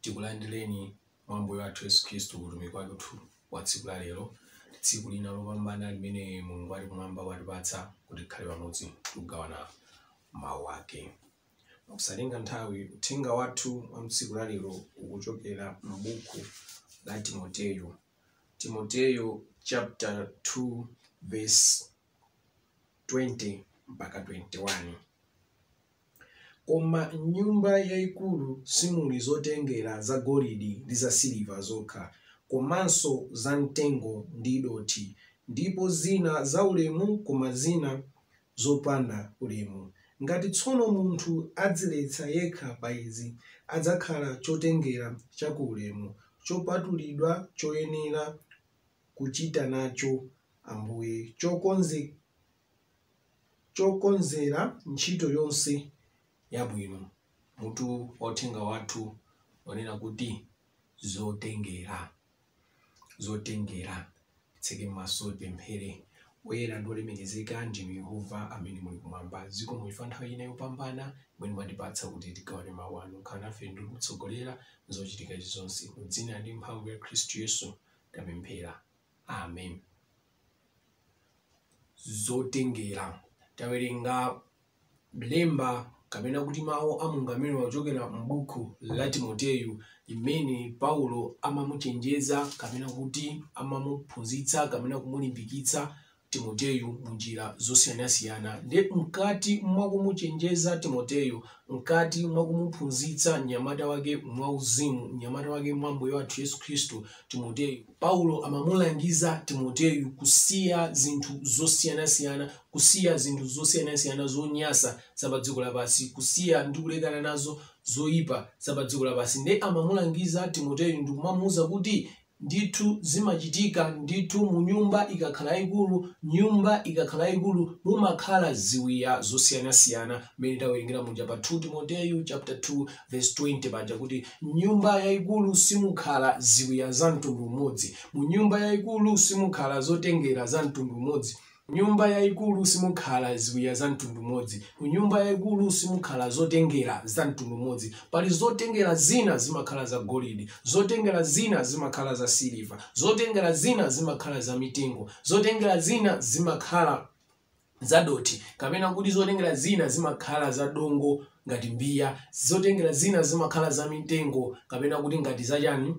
tikulandireni mwa Ambuye wathu Yesu Khristu kutumiki wathu wa tsiku la lero, tsiku lina lopambana limene Mulungu ali kumwamba watipatsa kuti tikhale pamodzi kugawana mawu ake. Mosatenga nthawi, uthenga wathu wa tsiku la lero ukuchokera m'buku la Timoteyo. Timoteyo chapter 2 verse 20 mpaka 21. Koma m'nyumba yaikulu simuli zotengera zagolidi ndi zasiliva zokha, komanso zamtengo ndi dothi, ndipo zina zaulemu koma zina zopanda ulemu. Ngati tsono munthu adziyeretsa yekha pa izi, adzakhala chotengera cha ku ulemu, chopatulidwa choyenera kuchita nacho Ambuye, chokonzedwa. chokonzera ntchito yonse yabwino. Mutu wa uthenga wathu ukunena kuti zotengera. Zotengera. Titseke maso tipemphere. Woyera ndi wolemekezeka ndinu Yehova amene muli kumwamba. Zikomo chifukwa nthawi ina yopambana imene mwatipatsa kuti tigawane mawu anu. Mukhale nafe ndi kutitsogolera m'zochitika zonse. Mu dzina ndi mphamvu ya Khristu Yesu tapemphera. Amen. Zotengera. Tawerenga lemba kapena kuti mawu a Mulungu amene akuchokera m'buku la Timoteyo limene Paulo amamuchenjeza kapena kuti amamuphunzitsa kapena kumulimbikitsa Timoteyo mu njira zosiyanasiyana. Nde mkati mwa kumuchenjeza Timoteyo, mkati mwa kumuphunzitsa mnyamata wake mwa uzimu, mnyamata wake mwa Ambuye wathu Yesu Khristu, Timoteyo, Paulo amamulangiza Timoteyo kusiya zinthu zosiyanasiyana, kusiya zinthu zosiyanasiyana zonyasa za pa dziko lapansi, kusiya ndi kulekana nazo zoyipa za pa dziko lapansi. Nde amamulangiza Timoteyo ndi kumamuuza kuti ndithu zimachitika ndithu munyumba ikakhala yayikulu nyumba ikakhala yayikulu mumakhala ziwiya zosiyanasiyana mmene tawerengera muja pa 2 timoteyu chapter 2 verse 20 paja kuti m'nyumba yayikulu simukhala ziwiya za mtundu umodzi munyumba yayikulu simukhala zotengera za mtundu umodzi M'nyumba yaikulu simukhala ziwiya za mtundu umodzi. M'nyumba yaikulu simukhala zotengera za mtundu umodzi. Pali zotengera zina zimakhala za golidi, zotengera zina zimakhala za siliva, zotengera zina zimakhala za mitengo, zotengera zina zimakhala za dothi, kapena kuti zotengera zina zimakhala za dongo ngati mbiya, zotengera zina zimakhala za mitengo, kapena kuti ngati za chani?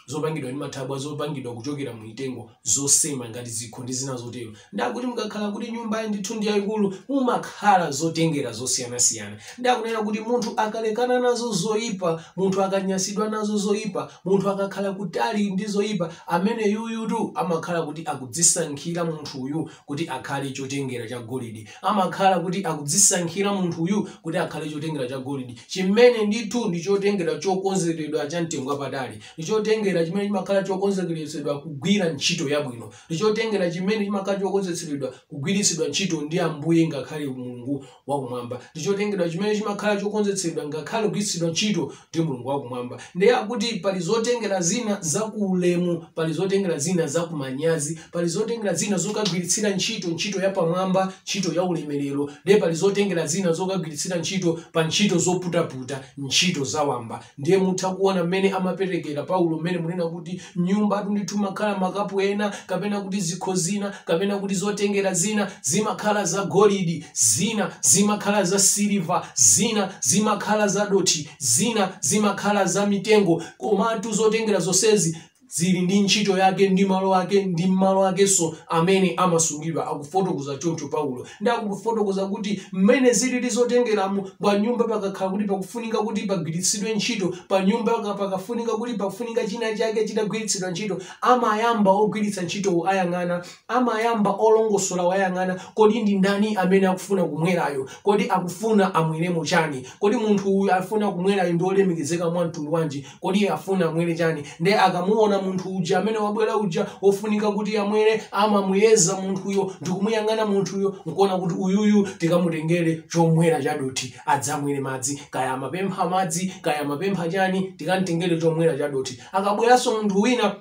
zopangidwa ndi mathabwa zopangidwa kuchokera mu mitengo zosema ngati zikho ndi zina zotero ndikuti mukakhala kuti nyumbayi ndithu ndi yayikulu mumakhala zotengera zosiyanasiyana ndikunena kuti munthu akalekana nazo zoyipa munthu akanyasidwa nazo zoyipa munthu akakhala kutali ndi zoyipa ameneyuyutu amakhala kuti akudzisankhira munthuyu kuti akhale chotengera cha golidi amakhala kuti akudzisankhira munthuyu kuti akhale chotengera cha golidi chimene ndithu ndi chotengera chokonzeredwa cha mtengo wapatali ndi chotengera chimene chimakhala chokonzekeretsedwa kugwira ntchito yabwino ndi chotengera chimene chimakhala chokonzekeretsedwa kugwiritsidwa ntchito ndi ambuye ngakhale mulungu wakumwamba ndi chotengera chimene chimakhala chokonzetsedwa ngakhale kugwiritsidwa ntchito ndi mulungu wakumwamba ndiye akuti pali zotengera zina za kuulemu pali zotengera zina za kumanyazi pali zotengera zina zokagwiritsira ntchito ntchito yapamwamba ntchito ya ulemerero ndiye pali zotengera zina zokagwiritsira ntchito pa ntchito zoputaputa ntchito zawamba ndiye mutha kuona mmene amaperekera paulo pomwe amanena kuti m'nyumbatu ndithu mumakhala makapu ena kapena kuti zikho zina kapena kuti zotengera zina zimakhala za golidi zina zimakhala za siliva zina zimakhala za dothi zina zimakhala za mitengo komatu zotengera zonsezi zili ndi ntchito yake ndi malo ake ndi malo akenso amene amasungidwa akufotokoza choncho paulo ndi akufotokoza kuti mmene zilili zotengeramo pa nyumba pakakhala kuti pakufunika kuti pagwiritsidwe ntchito pa nyumba paka- pakafunika kuti pafunika china chake chitagwiritsidwa ntchito amayamba ogwiritsa ntchitowo ayang'ana amayamba olongosola ayang'ana kodi ndi ndani amene akufuna kumwerayo kodi akufuna amweremo chani kodi munthu uyu afuna kumwerayo ndi olemekezeka mwa mtundu wanji kodi iye afuna amwere chani nde akamuona munthu uja amene wabwera uja wofunika kuti amwere amamuyeza munthuyo ndikumuyang'ana munthuyo nkuona kuti uyuyu tikamutengere chomwera chadothi adzamwere madzi kaya amapempha madzi kaya amapempha chani tikamtengere chomwera chadothi akabweranso munthu wina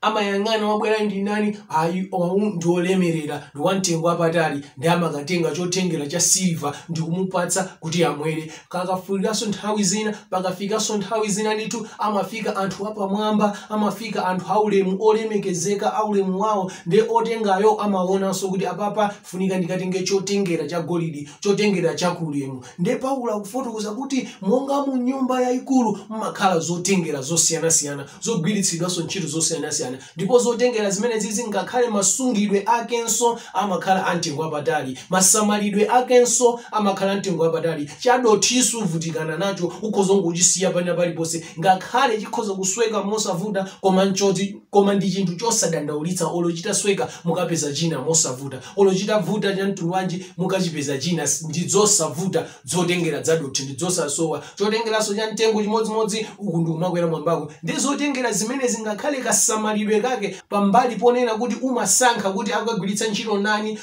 amayang'ana wabwera ndi ndani ayi awa ndi olemerera ndi wamtengo wapatali ndi amakatenga chotengera cha silva ndi kumupatsa kuti amwere pakafikanso nthawi zina pakafikanso nthawi zina ndithu amafika anthu apamwamba amafika anthu aulemu olemekezeka aulemu wawo nde otengayo amaonanso kuti apapa funika ndikatenge chotengera cha golidi chotengera cha kuulemu Ndiye Paulo akufotokoza kuti monga mu nyumba yayikulu mumakhala zotengera zosiyanasiyana zogwiritsidwanso ntchito zosiyanasiyana ndipo zotengera zimenezizi ngakhale masungidwe akenso amakhala amtengo wapatali, masamalidwe akenso amakhala amtengo wapatali. Chadothi suvutikana nacho, ukhoza kungochisiya pena paliponse ngakhale chikhoza kusweka mosavuta koma n'choti. koma ndi chinthu chosadandaulitsa olo chitasweka mukapeza china mosavuta olo chitavuta cha mtundu wanji mukachipeza china ndi zosavuta zotengera zadothi ndi zosasowa chotengeranso cha mtengo chimodzimodzi uku ndi kumakwera mwambako ndi zotengera zimene zingakhale kasamalidwe kake pambali ponena kuti umasankha kuti akagwiritsa ntchito ndani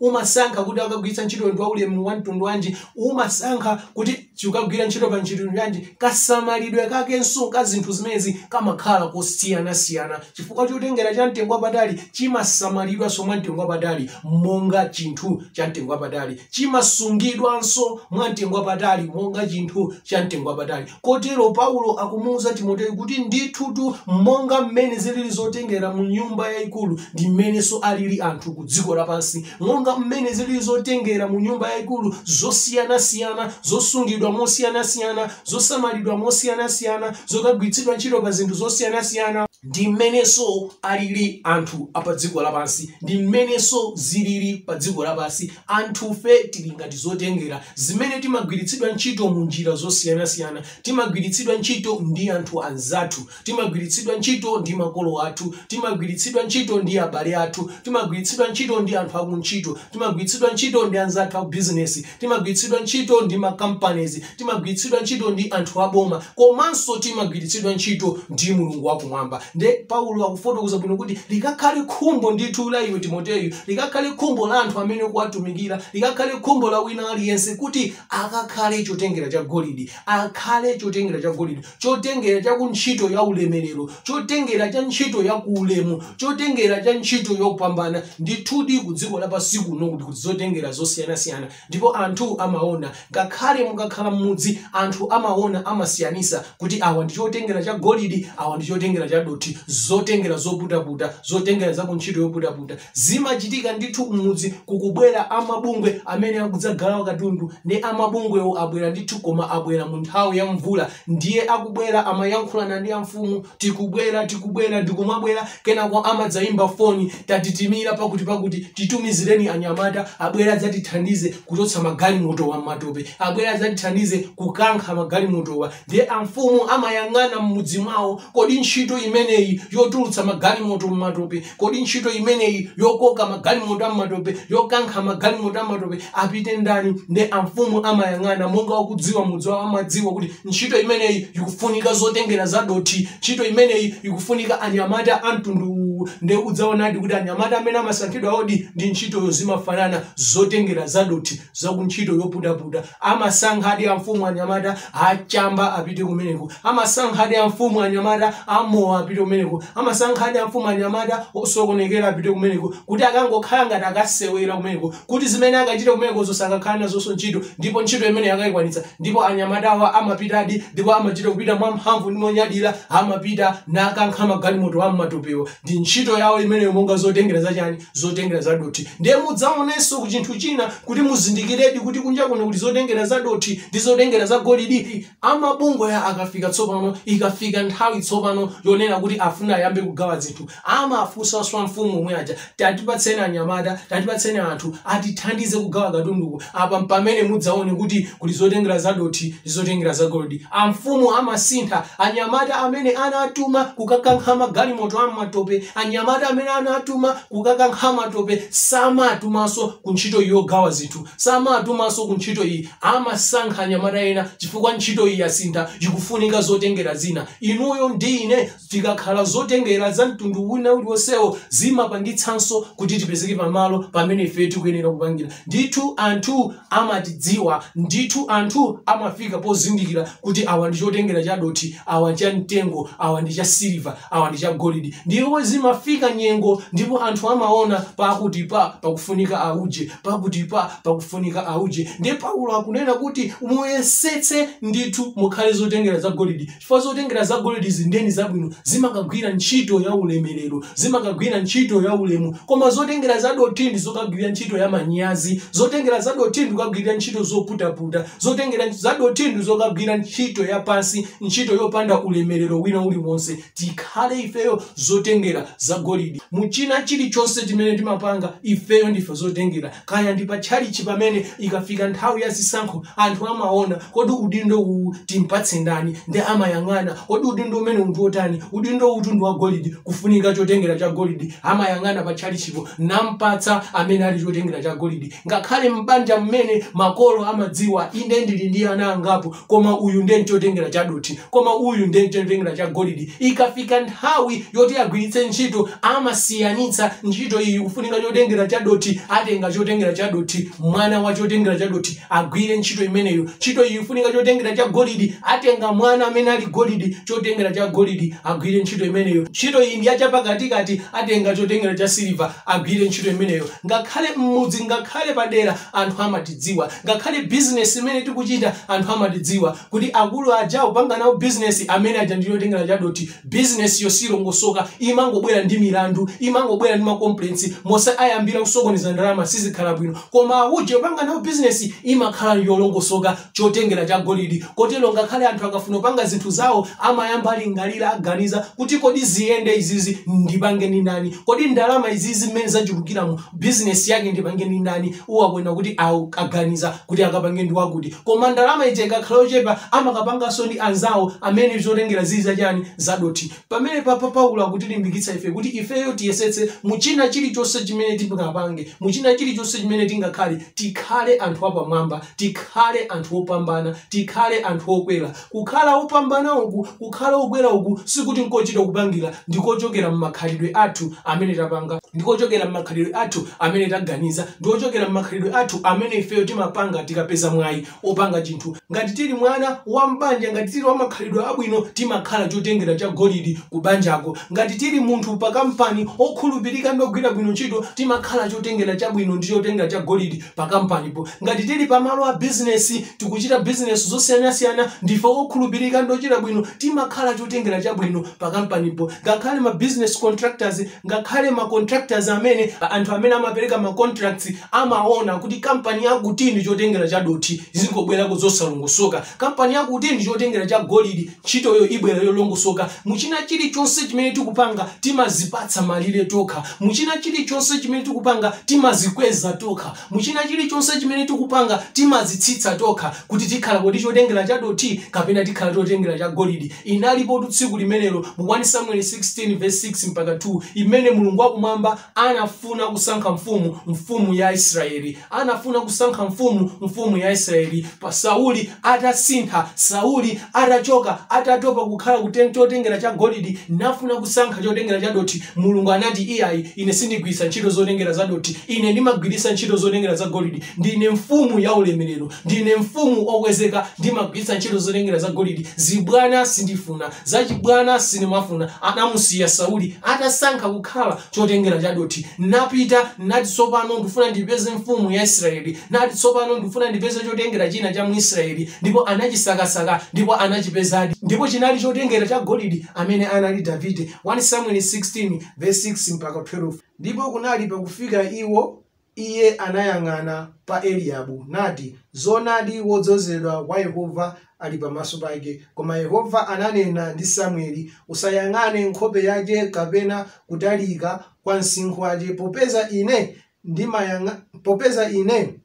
umasankha kuti akagwiritsa ntchito ndi waulemu wa mtundu wanji umasankha kuti chikagwira ntchito pa ntchito yanji kasamalidwe kakenso ka zinthu zimenezi kamakhala kosiyanasiyana chifukwa chotengera cha mtengo wapatali chimasamalidwanso mwa mtengo wapatali monga chinthu cha mtengo wapatali chimasungidwanso mwa mtengo wapatali monga chinthu cha mtengo wapatali kotero paulo akumuwuza timoteyo kuti ndithutu monga mmene zilili zotengera mu nyumba yayikulu ndi mmenenso alili anthu ku dziko lapansi monga mmene zilili zotengera mu nyumba yaikulu zosiyanasiyana zosungidwa mosiyanasiyana, zosamalidwa mosiyanasiyana, zokagwiritsidwa ntchito pa zinthu zosiyanasiyana, ndi mmenenso alili anthu a padziko lapansi, ndi mmenenso zilili padziko lapansi, anthufe tili ngati zotengera zimene timagwiritsidwa ntchito mu njira zosiyanasiyana, timagwiritsidwa ntchito ndi anthu anzathu. timagwiritsidwa ntchito ndi makolo athu timagwiritsidwa ntchito ndi abale athu timagwiritsidwa ntchito ndi anthu akuntchito timagwiritsidwa ntchito ndi anzathu abizinesi timagwiritsidwa ntchito ndi makampanizi timagwiritsidwa ntchito ndi anthu aboma komanso timagwiritsidwa ntchito ndi mulungu wakumwamba nde paulo akufotokoza bwino kuti likakhale khumbo ndithu la iwe timoteyo likakhale khumbo la anthu amene ukuwatumikira likakhale khumbo la wina aliyense kuti akakhale chotengera cha golidi akhale chotengera cha golidi chotengera cha ku ntchito ya ulemerero chotengera cha ntchito ya kuulemu chotengera cha ntchito yopambana ndithudi ku dziko lapansi kuno kuli kuli zotengera zosiyanasiyana ndipo anthu amaona ngakhale mukakhala m'mudzi anthu amaona amasiyanitsa kuti awa ndi chotengera cha golidi awa ndi chotengera cha dothi zotengera zoputaputa zotengera za ku ntchito yoputaputa zimachitika ndithu m'mudzi kukubwera amabungwe amene akudzagawa katundu nde amabungwewo abwera ndithu koma abwera mu nthawi ya mvula ndiye akubwera amayankhulana ndi amfumu tikubwera tikubwera ndikumabwera kenako amadzayimba foni tatitimira pakuti pakuti titumizireni anyamata abwere adzatithandize kuchotsa magalimotowa m'matope abwere adzatithandize kukankha magalimotowa ndiye amfumu amayang'ana m'mudzi mwawo kodi ntchito imeneyi yotulutsa magalimoto m'matope kodi ntchito imeneyi yokoka magalimoto am'matope yokankha magalimoto am'matope apite ndani nde amfumu amayang'ana monga wakudziwa mudzi wawo amadziwa kuti ntchito imeneyi ikufunika zotengera zadothi ntchito imeneyi ikufunika anyamata amtundu uwu nde udzaonadi kuti anyamata amene amasankhidwawodi ndi ntchitoyo zimafanana zotengera zadothi za ku ntchito yoputaputa amasankhadi amfumu anyamata achamba apite kumeneko amasankhadi amfumu anyamata amowa apite kumeneko amasankhadi amfumu anyamata osokonekera apite kumeneko kuti akangokhala ngati akasewera kumeneko kuti zimene akachita kumeneko zosakakhala nazonso ntchito ndipo ntchito imene akayikwanitsa ndipo anyamatawa amapitadi ndipo amachita kupita mwa mphamvu ndi monyadira amapita nakankha magalimoto am'matopewo ndi ntchito yawo imeneyo monga zotengera zachani zotengera zadothi ndiye mudzaonenso ku chinthu china kuti muzindikiredi kuti kunja kuno kuli zotengera zadothi ndi zotengera za golidi amabungwe aja akafika tsopano ikafika nthawi tsopano yonena kuti afuna ayambe kugawa zinthu amafunsanso amfumu omwe aja tatipatseni anyamata tatipatseni anthu atithandize kugawa katunduku apa mpamene mudzaone kuti kuli zotengera zadothi Zotengera za golidi. Amfumu amasintha. Anyamata amene anatuma kukakankha magalimoto a m'matope. Anyamata amene anatuma kukakankha matope samatumanso ku ntchito iyi yogawa zinthu. Samatumanso ku ntchito iyi. Amasankha anyamata ena chifukwa ntchito iyi yasintha, ikufunika zotengera zina. Inuyo ndi ine. Tikakhala zotengera za mtundu wina uliwonsewo, zimapangitsanso kuti tipezeke pa malo pamene ifeyo tikuyenera kupangira. Ndithu anthu amatidziwa. Ndithu anthu amafika pozindikira kuti awa ndi chotengera cha dothi, awa cha mtengo, awa ndi cha siliva, awa ndi cha golidi. Ndipo zimafika nyengo ndipo anthu amaona pakutipa pakufunika auje, pakutipa pakufunika auje. Ndiye Paulo akunena kuti muyesetse ndithu mukhale zotengera za golidi. chifukwa zotengera za golidi zinedi zabwino zimakagwira ntchito ya ulemerero zimakagwira ntchito ya ulemu koma zotengera za dothi ndi zokagwira ntchito ya manyazi zotengera za dothi ndi zokagwira ntchito zoputaputa zotengera za dothi ndi zokagwira ntchito ya pansi ntchito yopanda ulemerero wina uliwonse tikhale ifeyo zotengera za golidi mu china chilichonse chimene timapanga ifeyo ndife zotengera kaya ndi pa tchalitchi pamene ikafika nthawi ya zisankho anthu amaona kodi udindo uwu timpatse ndani ndi amayang'ana kodi udindo umenewu ndi wotani udindo uwu ndi wa golidi kufunika chotengera cha golidi amayang'ana pa tchalitchipo nampatsa amene ali chotengera cha golidi ngakhale m'banja mmene makolo amadziwa ine ndili ndi ana angapo koma uyu ndiye nchotengera cha dothi koma uyu ndiye nchotengera cha golidi ikafika nthawi yoti agwiritse ntchito amasiyanitsa ntchito iyi kufunika chotengera cha dothi atenga chotengera cha dothi mwana wa chotengera cha dothi agwire ntchito imeneyo ntchito iyi kufunika chotengera cha golidi atenga mwana amene ali golidi chotengera cha golidi agwire ntchito imeneyo ntchito iyi ndi ya cha pakatikati atenga chotengera cha siliva agwire ntchito imeneyo ngakhale m'mudzi ngakhale padera anthu amatidziwa Ngakhale business imene tikuchita anthu amatidziwa kuti akulu aja ukapanga nawo business amene aja ndi chotengera cha dothi. Business yo silongosoka imangobwera ndi milandu, imangobwera ndi ma complaints mwinanso ayamba kusokoneza ndalama sizikhala bwino. Koma uje ukapanga nawo business imakhala yolongosoka chotengera cha golidi. Kotero ngakhale anthu akafuna kupanga zinthu zawo amayamba alingalira aganiza kuti kodi ziyende zimenezi ndipange ndi ndani? Kodi ndalama izizi mmene zachulukiramu business yake ndipange ndi ndani? uwaona kuti awo aganiza kuti akapange ndi wakuti koma ndalama ija ikakhala yochepa amakapanganso ndi anzawo amene zotengera zili zachani zadothi pamene apapa Paulo akutilimbikitsa ife kuti ifeyo tiyesetse mu china chilichonse chimene tingapange mu china chilichonse chimene tingakhale tikhale anthu apamwamba tikhale anthu opambana tikhale anthu okwera Kukhala opambana uku, kukhala okwera uku, sikuti nkochita kupangira, ndi kochokera mmakhalidwe athu amene tapanga, ndi kochokera mmakhalidwe athu amene taganiza, ndi kochokera mmakhalidwe athu amene ifeyo timapanga tikapeza mwayi opanga chinthu. Ngati tili mwana wa mbanja, ngati tili wamakhalidwe abwino, timakhala chotengera cha golidi ku banjako. Ngati tili munthu pa kampani, okhulupirika ndi ogwira bwino ntchito, timakhala chotengera chabwino ndi chotengera cha golidi pakampanipo. Ngati tili pamalo a bizinesi, tikuchita bizinesi zosiyanasiyana, ndife okhulupirika ndi ochita bwino, timakhala chotengera chabwino pakampanipo. Ngakhale ma business contractors, ngakhale ma contractors amene, anthu amene amapereka ma contracts, amaona kuti kampani yakuti ndi chotengera chadothi, zingobwerako zosalongosoka. Kampani yakuti ndi chotengera cha golidi, Ntchitoyo ibwera yolongosoka. Mu china chirichonse chimene tikupanga, timazipatsa malire tokha. Mu china chirichonse chimene tikupanga, timazikweza tokha. Mu china chirichonse chimene tikupanga, timazitsitsa tokha, kuti tikhala kodi chotengera cha dothi kapena tikhala chotengera cha golidi. Inalipotu tsiku limenelo mu 1 Samueli 16 vesi 6 mpaka 12 imene Mulungu wa Kumwamba anafuna kusankha mfumu, mfumu ya Israeli. anafuna kusankha mfumu, mfumu ya Israeli, pa Sauli atasintha, Sauli atachoka, atatopa kukhala chotengera cha golidi, nafuna kusankha chotengera cha dothi. Mulungu anati iyayi, ine sindigwiritsa ntchito zotengera za dothi, ine ndimagwiritsa ntchito zotengera za golidi. Ndine mfumu ya ulemerero, ndine mfumu okwezeka, ndimagwiritsa ntchito zotengera za golidi. Zibwana sindifuna, zachibwana sindimafuna. Anamusiya Sauli atasankha kukhala chotengera cha dothi, napita, nati, Tsopano ndifuna ndipeze mfumu ya Israeli, nati, Tsopano ndifuna ndipeze chotengera china cha mu Israeli, ndipo anachisakasaka ndipo anachipezadi, ndipo chinali chotengera cha golidi amene anali Davide. 1 Samueli 16 verse 6 mpaka 12. Ndipo kunali pakufika iwo Iye anayang'ana pa Eliabu nati, Zoonadi wodzozedwa wa Yehova ali pamaso pake. Koma Yehova ananena ndi Samueli, Usayang'ane nkhope yake kapena kutalika kwa msinkhu wake, popeza Ine ndimayang'a, popeza Ine,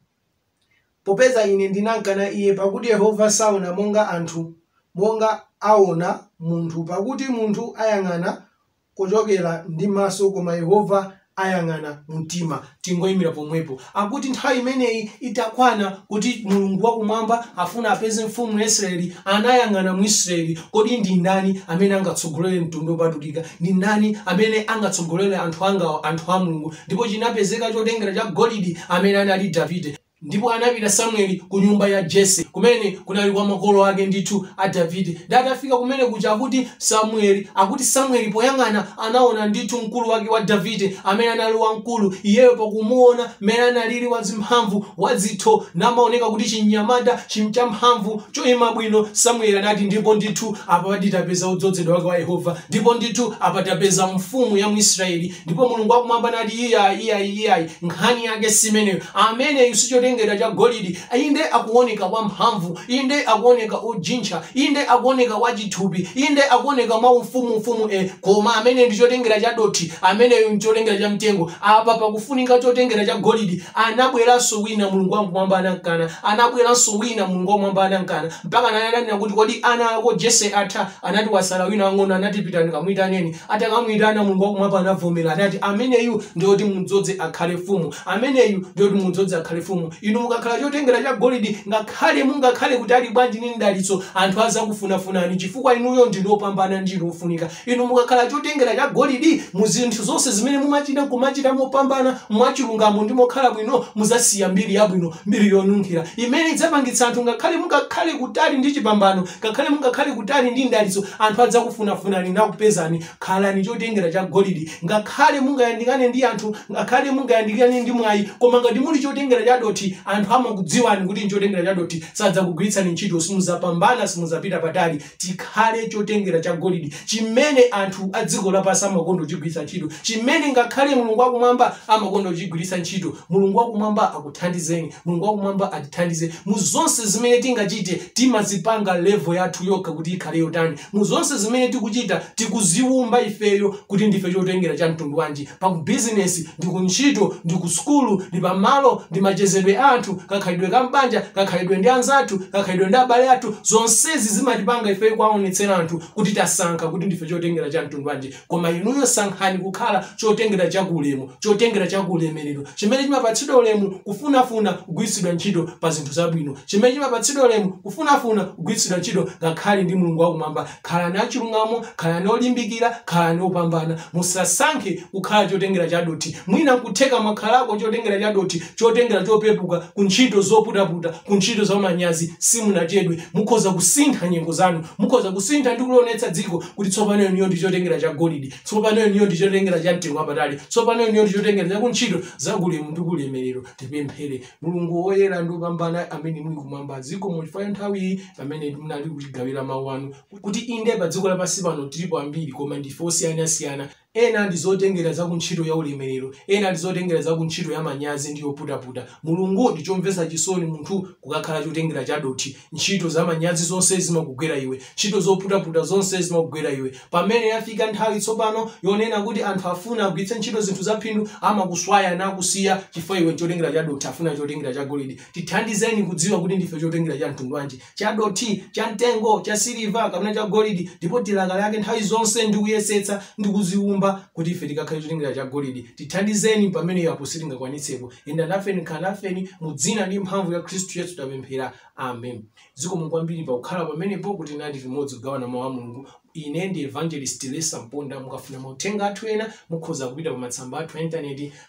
popeza Ine ndinamkana iye, pakuti Yehova saona monga anthu, monga aona munthu, pakuti munthu ayang'ana kuchokera ndi maso koma Yehova ayang'ana mtima tingoyimira pomwepo akuti nthawi imeneyi itakwana kuti Mulungu wakumwamba afuna apeze mfumu ya Israeli anayang'ana mu Israeli kodi ndi ndani amene angatsogolere mtundu wopatulika ndi ndani amene angatsogolere anthu angawa anthu a Mulungu ndipo chinapezeka chotengera cha golidi amene anali Davide Ndipo anapita Samueli ku nyumba ya Jese, kumene kunali kwa makolo ake ndithu a Davide. Ndi atafika kumene kuja akuti Samueli, akuti Samueli poyang'ana anaona ndithu mkulu wake wa Davide, amene anali wamkulu, iyeyo pakumuona mmene analili wazimphamvu, wadzitho, namaoneka kuti chimnyamata chim- champhamvu, choima bwino, Samueli anati, ndipo ndithu apa tapeza wodzozedwa wake wa Yehova, ndipo ndithu apa tapeza mfumu ya mu Israeli, Ndipo Mulungu wa Kumwamba nati, Iai, iai, iai, nkhani yake si imeneyo. Ameneyu si chotengera cha golidi. Inde akuoneka wamphamvu, inde akuoneka ojintcha, inde akuoneka wachithupi, inde akuoneka mwa ufumu ufumu, e, koma amene ndi chotengera cha dothi, ameneyo nchotengera cha mtengo. Apa pakufunika chotengera cha golidi. Anabweranso wina, Mulungu wa Kumwamba anamkana. Anabweranso wina, Mulungu wa Kumwamba anamkana. Mpaka ananena kuti, Kodi ana ako Jese atha? anati wasala wina wang'ono anati pitani kamuitaneni atakamuitana mulungu wakumwamba anavomera anati ameneyu ndi woti mudzoze akhale mfumu ameneyu ndi woti mudzoze akhale mfumu inu mukakhala chotengera cha golidi ngakhale mungakhale kutali bwanji ndi mdalitso anthu azakufunafunani chifukwa inuyo ndinu opambana ndinu ofunika inu mukakhala chotengera cha golidi mu zinthu zonse zimene mumachita kumachita mopambana mwachilungamo ndi mokhala bwino muzasiya mbiri yabwino mbiri yonunkhira imene idzapangitsa anthu ngakhale mungakhale kutali ndi chipambano Ngakhale mungakhale kutali ndi mdalitso, anthu adzakufunafunani nakupezani. Khalani chotengera cha golidi. Ngakhale mungayandikane ndi anthu, ngakhale mungayandikane ndi mwayi, koma ngati muli chotengera cha dothi, anthu amakudziwani kuti nchotengera cha dothi. Sadzakugwiritsani ntchito, simudzapambana, simudzapita patali. Tikhale chotengera cha golidi chimene anthu a dziko lapansi amakonda kuchigwiritsa ntchito, chimene ngakhale Mulungu wakumwamba amakonda kuchigwiritsa ntchito. Mulungu wakumwamba akuthandizeni. Mulungu wakumwamba atithandize mu zonse zimene tingachite. Timazipanga level yathu yokha kuti ikhale yotani. Mu zonse zimene tikuchita, tikuziwumba ifeyo kuti ndife chotengera cha mtundu wanji. Pa ku business, ndi ku ntchito, ndi ku sukulu, ndi pa malo, ndi machezedwe a anthu, kakhalidwe ka m'banja, kakhalidwe ndi anzathu, kakhalidwe ndi abale athu, zonsezi zimatipanga ifeyo kuwaonetsera anthu kuti tasankha kuti ndife chotengera cha mtundu wanji. koma inuyo sankhani kukhala chotengera cha ulemu chotengera cha ulemerero chimene chimapatsidwa ulemu kufunafuna kugwiritsidwa ntchito pa zinthu zabwino chimene chimapatsidwa ulemu kufunafuna kugwiritsidwa ntchito ngakhale ndi mulungu wakumwamba khalani achilungamo khalani olimbikira khalani opambana musasankhe kukhala chotengera cha dothi mwina kutheka mwakhalako chotengera cha dothi chotengera chopepuka ku ntchito zoputaputa ku ntchito zamanyazi simunachedwe mukhoza kusintha nyengo zanu mukhoza kusintha ndi kulionetsa dziko kuti tsopano inuyo ndi chotengera cha golide tsopano inuyo ndi chotengera cha mtengo wapatali tsopano inuyo ndi chotengera cha kuntchito zakulemu ndi kulemerero tipemphere mulungu woyera ndi wopambana amene muli kumwamba zikomo chifukwa cha nthawi iyi pamene munali kutigawira mawu anu kuti inde pa dziko lapansi pano tilipo ambiri koma ndife osiyanasiyana Ena ndi zotengera za ku ntchito ya ulemerero, ena ndi zotengera za ku ntchito ya manyazi ndi yoputaputa. Mulungu, ndi chomvetsa chisoni munthu kukakhala chotengera cha dothi. Ntchito za manyazi zonse zimakugwera iwe. Ntchito zoputaputa zonse zimakugwera iwe. Pamene yafika nthawi tsopano yonena kuti anthu afuna agwiritse ntchito zinthu za phindu, amakuswaya nakusiya chifukwa iwe nchotengera cha dothi, afuna chotengera cha golidi. Tithandizeni kudziwa kuti ndife chotengera cha mtundu wanji. chadothi chamtengo chasiliva kapena chagolidi ndipo tilakalake nthawi zonse ndi kuyesetsa ndi kuziumba kuti ife tikakhale chotengera chagolidi tithandizeni pamene yapo sitingakwanitsepo enda nafeni khala nafeni mu dzina ndi mphamvu ya khristu yesu tapemphera amen zikomo kwambiri pakukhala pamenepo kuti tinali limodzi kugawana mawu a mulungu ine ndi evangelist lesa mponda mukafuna mauthenga athu ena mukhoza kupita pa matsamba athu a intaneti